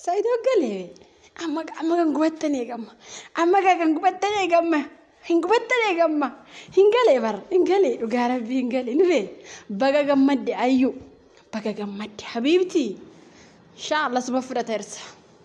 Saidoo galee amma amma kan gubattan eegamma amma kan kan gubattan eegamma hin gubattan eegamma hin galee bar hin galee dhugaa rabbii hin galee ni bee baga gammadde ayyuu baga gammadde habiibti inshaa Allah suba fudhata irsa.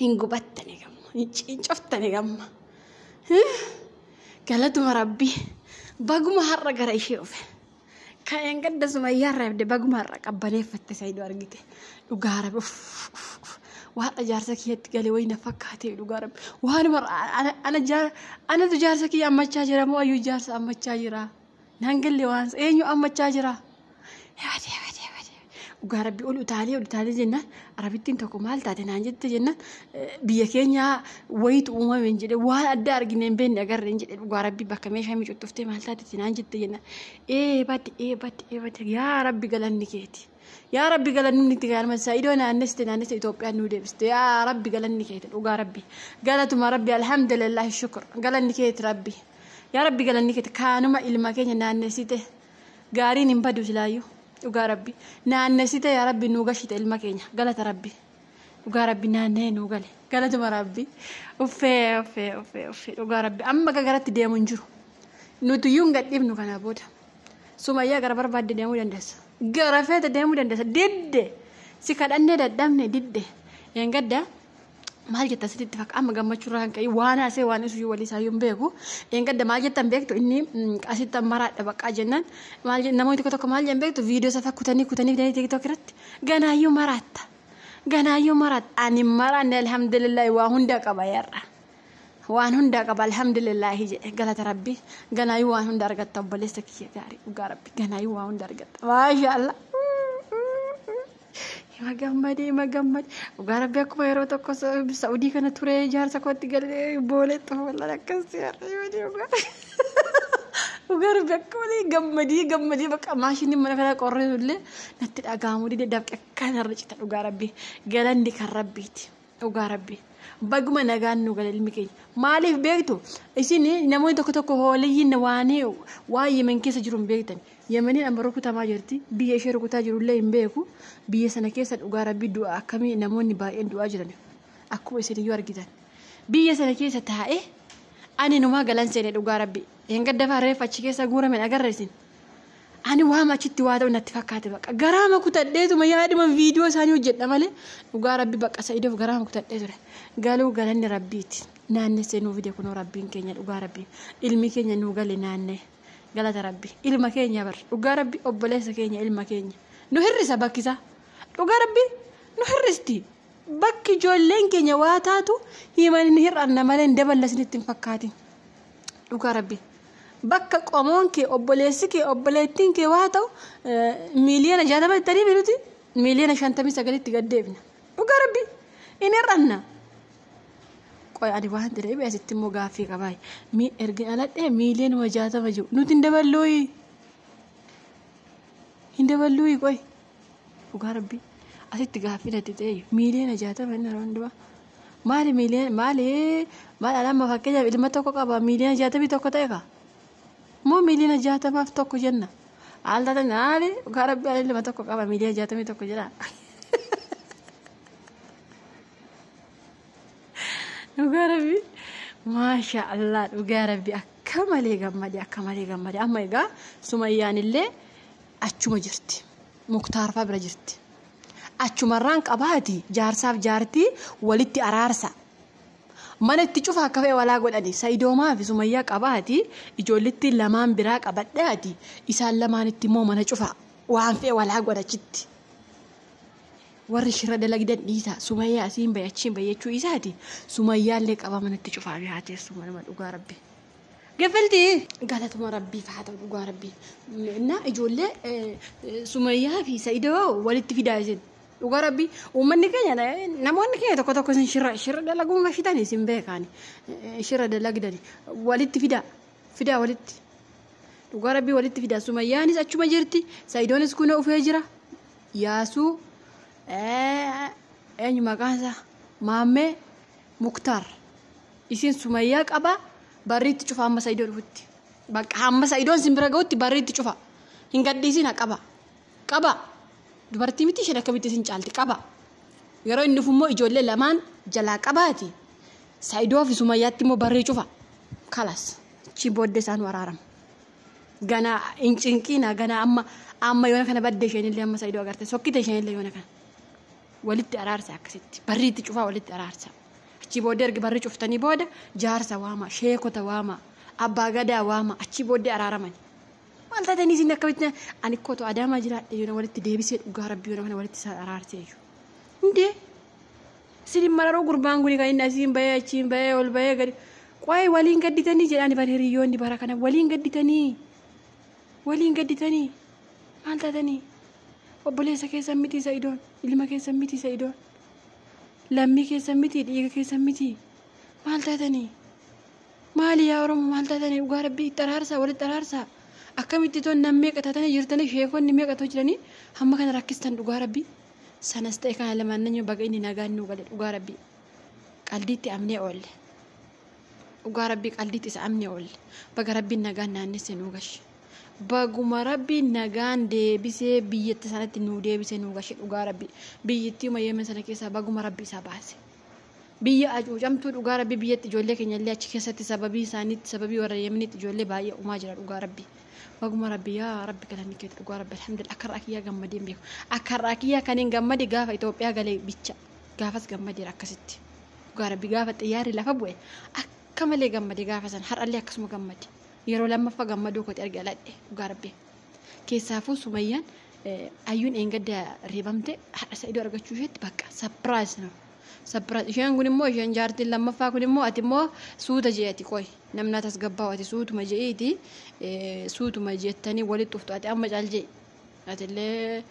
hin gubattani gamma hin ciincoftani gamma galatuma rabbi baguma har'a gara ishee dhufe ka'een gadda sumayyaa irraa ibde baguma har'a qabbaneeffatte sayidu argite dhugaa rabbi uff, uff, uff. waadha jaarsa kiyyatti galee wayii na fakkaate dhugaa rabbi waanuma ana, ana, jaar- anatu jaarsa kiyya ammachaa jira moo ayyuu jaarsa ammachaa jira Naan galle waan eenyu ammachaa jira. Yaadee yaadee yaadee dhugaa rabbi ol utaalee ol utaalee jennaan arabittiin tokko maal taate naan jette jennaan biyya keenyaa wayitu uumameen jedhe waan adda argine hin beekne agarreen jedhe dhugaa rabbi bakka meeshaa micuxxuftee maal taate naan jette jennaan ee badde ee badde ee badde yaa rabbi galanni keeti. Yaa rabbi galanni itti gaarman isaa idoo naanneste naanneste Itoophiyaan nuu deebiste yaa rabbi galanni keeti dhugaa rabbi galatuma rabbi alhamdulillah shukur galanni keeti rabbi yaa rabbi galanni keeti kaanuma ilma keenya naannessite gaariin hin badu silaayyuu dhugaa rabbi naannessite yaa rabbi nuu gashite ilma keenya galata rabbi dhugaa rabbi naannee nuu gale galatuma rabbi uffee uffee uffee uffee dhugaa rabbi amma gagaratti deemu hin jiru nuti iyyuu hin gadhiifnu kanaa booda. Sumayyaa gara barbaadde deemuu dandeessa. Gara feete deemuu dandeessa. Didde. Si kadhannee dadhabne didde. Eengadda maal jetta sitti itti fakkaata amma gammachuu irraa kan ka'e waan haasee waan isuyyuu walii isaayyuu hin beeku. Eengadda maal jettan beektu inni mm, asitti maraadha baqqaa jennaan maal jett- namoonni tokko tokko maal jedhan beektu viidiyoo isaa kutanii kutanii fidanii tiktok irratti ganaayyuu maraatta. Ganaayyuu maraatta. Ani hin maraanne alhamdulillah waa hunda qaba yarra. waan hundaa qaba alhamdulillaahi jedhe galata rabbi ganaayuu waan hunda argatta obboleessa kiyya gaarii dhugaa rabbi ganaayuu waan hunda argatta maasha allah ima gammade ima gammade dhugaa rabbi akkuma yeroo tokko sa'udii kana ture jaarsa kootti galee boolee xoolan akkas dhugaa dhugaa rabbi akka malee gammadee gammadee bakka maashiniin mana kanaa qorree illee natti dhaga'amu dide dafqe akkanarra cita dhugaa rabbi galanni kan rabbiiti. Dhugaa rabbi baguma nagaan nu gale ilmi keenya maaliif beektu isin namoonni tokko tokko hooliyyiin waan waan yemen keessa jiru hin beektan yemeniin amma rukutamaa jirti biyya ishee rukutaa jirullee hin beeku biyya sana keessa dhugaa rabbi du'a akkamii namoonni baay'een du'aa jiran akkuma isin iyyuu argitan biyya sana keessa taa'ee ani numaa galan seene dhugaa rabbi hin gaddafaa reeffa achi keessa guuramen agarra isin. Ani waama achitti waa ta'u natti fakkaate baqa. Garaama kutadheetuma yaaduma viidiyoo isaanii hojjedha malee dhugaa rabbi baqa sa'idoof garaama kutadhee ture. Galuu galanni rabbiiti. Naannessee nuu fide kunoo rabbiin keenya dhugaa rabbi. Ilmi keenya nuu gale naannee. Galata rabbi. Ilma keenya bar. Dhugaa rabbi obboleessa keenya ilma keenya. Nu hirrisa bakkisaa. Dhugaa rabbi nu hirristi. Bakki ijoolleen keenya waa taatu himan hin hir'anna malee hin daballa isinitti hin fakkaatin. Dhugaa rabbi. Bakka qomoon kee obboleessi kee obboleettiin kee waa ta'u miiliyoona jaatama itti ariifi nuti miiliyoona shantamii sagalitti gad deebina. Dhugaa rabbi. Hin hir'anna. Qoy ani waan jedhee bee asitti immoo gaaffii qabaa. Mii ergin aladhee miiliyoonuma jaatama jiru nuti hin daballooyi. Hin daballooyi qoy. Dhugaa rabbii asitti gaaffii natti ta'e miiliyoona jaatama inni yeroo hundumaa. Maali miiliyoona maali maal alama fakkeenyaaf ilma tokko qaba miiliyoona jaatamii tokko ta'e kaa. Moo miiliyoona jaatamaaf tokko jenna. Haal taate maali dhugaa rabbii ani ilma tokko qaba miiliyoona jaatamii tokko jedha. Dhugaa rabbii maashaa Allah dhugaa rabbii akka malee gammade akka malee gammade amma egaa sumayyaan illee. achuma jirti muktaarfaa bira jirti achumarraan qabaati jaarsaaf jaartii walitti araarsa mana itti cufa akka fe'e walaa godhani sa'idoomaa fi sumayyaa qabaati ijoollitti lamaan biraa qabadhaati isaan lamaanitti immoo mana cufa waan fe'e walaa godhachitti warri shira dalagdan dhiisa sumayyaa asiin bahe achiin bahe jechuu isaati sumayyaallee qabaa manatti cufaa fi haa teessu manuma dhugaa rabbi. Gifilti galatuma rabbiif haa ta'u dhugaa rabbii. Innaa ijoollee eh, eh, Sumayyaa fi Sa'idoo walitti fidaa isin. Dhugaa rabbii uummanni keenya eh, namoonni keenya tokko tokko isin shirra shirra dalaguun gashitan isin beekaani. Eh, Shirra dalagdani walitti fidaa fidaa walitti. Dhugaa rabbii walitti fidaa Sumayyaanis achuma jirti Sa'idoonis kunoo ufee jira. Yaasuu eh, eenyu maqaan isaa Maammee Muktar. Isiin sumayyaa qaba barrii itti cufa amma saidoo dhufutti. Bakka hamma saidoon isin bira ga'utti barrii itti cufa. Hin gadhiisina qaba. Qaba. Dubartii miti isheen akkamitti isin caalti qaba. Yeroo inni dhufu immoo ijoollee lamaan jalaa qabaati. Saidoo fi sumayyaatti immoo barrii cufa. Kalas. Achii booddee isaan waraarama. Ganaa hin cinqiina ganaa amma amma yoona kana badde isheenillee amma saidoo agarte sokkite isheenillee yoona kana. walitti araarsa akkasitti barri itti cufaa walitti araarsa achi booddee erga barri cuftanii booda jaarsa waamaa sheekota waamaa abbaa gadaa waamaa achi booddee araaramani maal taatanii isin akkamitti ani kootu adaamaa jiraadhe yoona walitti deebisee dhugaa rabbii yoona kana walitti isaan araarsee iyyuu hundee isin mararoo gurbaan kun kan inni asiin bahee achiin bahee ol bahee gadi qo'ee waliin gadditanii jedhaani bara hiriyoonni bara kana waliin gadditanii waliin gadditanii maal taatanii obboleessa keessan mitii sa'idoon ilma keessan mitii sa'idoon lammii keessan mitii dhiiga keessan mitii maal taatanii maali yaa oromo maal taatanii dhugaa rabbii itti araarsaa walitti araarsaa akkamitti toon nam meeqa taatanii jirtanii sheekonni meeqa too jiranii hamma kana rakkistan dhugaa rabbii sanas ta'e kana lamaannanyoo baga inni nagaan nuu gale dhugaa rabbii qaldiitti amnee oolle dhugaa rabbii qaldiitti isa amnee oolle baga rabbiin nagaan naannesse nuu gashi. Baguma rabbiin nagaan deebisee biyyatti sanatti nuu deebisee nuu gashe dhugaa rabbi biyyittiuma yemen sana keessaa baguma rabbi isaa baase. Biyya acuucamtuu dhugaa rabbi biyyatti ijoollee keenya illee achi keessatti sababii isaaniitti sababii warra yemenitti ijoollee baay'ee umaa jira dhugaa rabbi. Baguma rabbi yaa rabbi galanni keeti dhugaa rabbi alhamdulillah akka irraa kiyyaa gammadee hin beeku. Akka irraa kiyyaa kan hin gammade gaafa Itoophiyaa galee bicha gaafas gammadeera akkasitti. Dhugaa rabbi gaafa xiyyaarri lafa bu'e akka malee gammade gaafa sana har'allee akkasuma gammade. Yeroo lammaffa gammaduu kooti erga dhaladhe dhugaa rabbi. Keessaafuu sumayyaan ayyuun eengadda reebamte hadha sa'idoo argachuu isheetti bakka sapiraayis no. Sapiraayis isheen kun immoo isheen jaartiin lammaffaa kun immoo ati immoo suuta je'ati qoy namnaa tasgabbaa'u ati suutuma je'iiti suutuma jettanii walitti dhuftu ati amma caal je'i. Atillee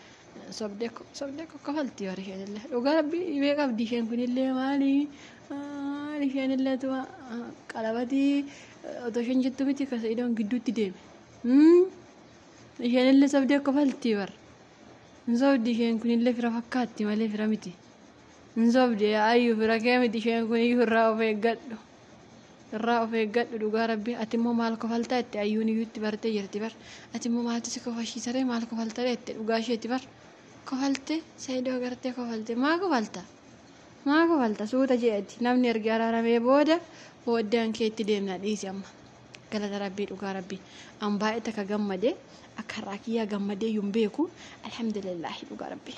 sobdee ko- sobdee ko kafalti warri isheenillee. Dhugaa rabbi dhibee qabdi isheen kunillee maali? Maali isheenillee tuma ah, qalabatii eh, otoo isheen jettu miti ka sa'idoon gidduutti deeme. Hmm? Isheenillee sobdee kofalti bar. Hin sobdi isheen kunillee fira fakkaatti malee fira miti. Hin sobde yaa ayyu fira kee miti isheen kun iyyuu irraa of eeggadhu. Irraa of eeggadhu dhugaa rabbi ati immoo maal kofaltaa itti ayyuun iyyuu itti bartee jirti bar. Ati immoo maaltu si kofashiisaree maal kofaltaree itti dhugaa isheeti bar. Kofalte saayidoo agartee kofalte maa kofalta? Maa kofalta suuta jeeti namni ergi araaramee booda booddaan kee itti deemna dhiisi amma. Galata rabbii dhugaa rabbii an baay'ee takka gammade akka har'aa kiyyaa gammadee iyyuu hin beeku alhamdulillaahi dhugaa rabbii.